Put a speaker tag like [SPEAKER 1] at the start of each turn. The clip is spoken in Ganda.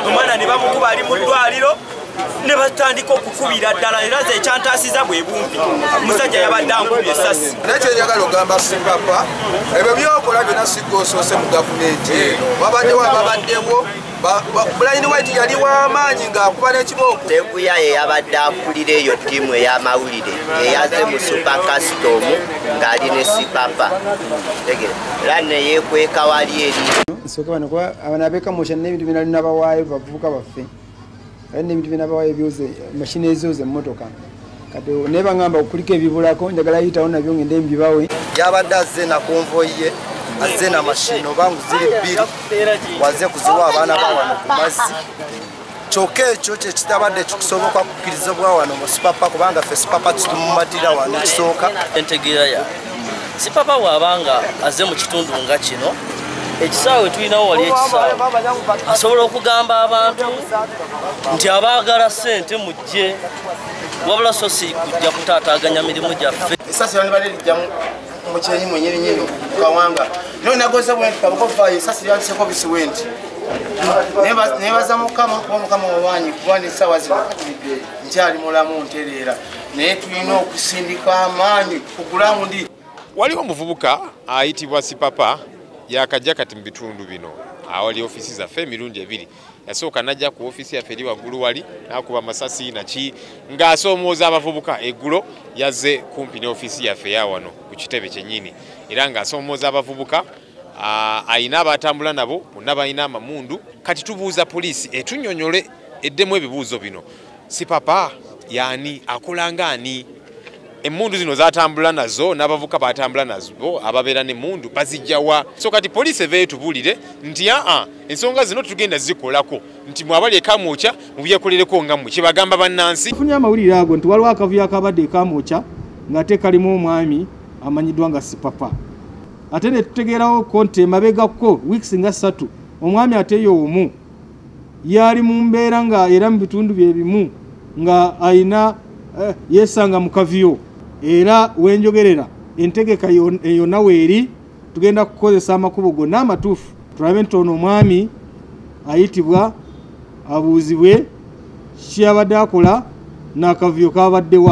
[SPEAKER 1] omwana ne bamukuba ali mu ddwaliro ne batandika okukubira ddala era ze ekyantaasiza bwe bumpi omusajja yabadde ankubye esasi naye kyenjagala ogamba
[SPEAKER 2] sipapa ebyo byokola byona sigga osoose mu gavumenti eno wabaddewo ababaddewo bulayini waiti yali w'amaanyi ng'akuba n'ekibooko teguya ye yabadde
[SPEAKER 3] akulira eyo ttiimu ey'amawulire eyaze mu supa kasitomu ng'ali ne sipapa era neyekweka wali eri soka bano kuba
[SPEAKER 4] abana abeka mosha n'ebintu bina lina bawaayo bavubuka baffe kati n'ebintu bina bawaayo byoze mashini ezooze emmotoka kati naye bangamba okuliko ebibulako njagala yitawo nabyo ngende mbibawe yabadde azze
[SPEAKER 5] nakonvoyi ye azze na mashini oba ngu ziri bbiri waze kuziwa abaana bawano ku mazzi kyokka ekyo kyekitabadde kikusoboka kukkiriza bwa wano mu sipapa kubanga fe sipapa titumumatira wano ekisooka entegeera ya
[SPEAKER 6] sipapa waaba nga aze mu kitundu nga kino ekisaawe tulinawo wali ekisaawe asobola okugamba abantu nti abaagala ssente mujje wabula so si kujja kutaataaganya mirimu gyaffe esasi bali bali lijjamu
[SPEAKER 5] mukyenyi mwenyini nyini kawanga no nagoza bwenti kabuko fayo sasi lyantise ko bisi wenti neba neba za mukama ko mukama wawanyi kwani sawa zino njali mulamu nterera naye tulina okusindika amaanyi kugulamu ndi waliwo omuvubuka
[SPEAKER 7] ayitibwa sipapa yakajja kati mu bitundu bino awali ofiisi zaffe emirundi ebiri yasooka najja ku ofiisi yaffe eri waggulu wali nakuba masasi naki ng'asoomooza abavubuka eggulo yazze kumpi ne ofiisi yaffe ya wano ku kitebe kyennyini era ng'asoomooza abavubuka alina abatambula nabo bonna balina amamundu kati tubuuza poliisi etunyonyole eddemu ebibuuzo bino si papa yani akola nga ani emundu zino zatambula nazo n'abavuka batambula nazo ababeera nemundu bazijjawa so kati poliisi eva etubulire nti aa ensonga zino tugenda zikolako nti mwabali ekamwokya mubyekolereko nga mwe kyebagamba bannansi tufunye amawulire ago nti
[SPEAKER 8] waliwo akavuyo akabadde ekamwokya ng'ate kalimu omwami amanyiddwa nga sipapa ate netutegeerawo ko nti emabegakko weeks nga ssatu omwami ateyo omu yaali mu mbeera nga era mu bitundu bye bimu nga alina eh, yeesanga mu kaviyo era wenjogerera entegeka yonna weeri tugenda kukozesa amakubo gonna amatuufu tulabe nti ono omwami ayitibwa abuuzibwe kiyabadde akola n'akavuyo kabaddewa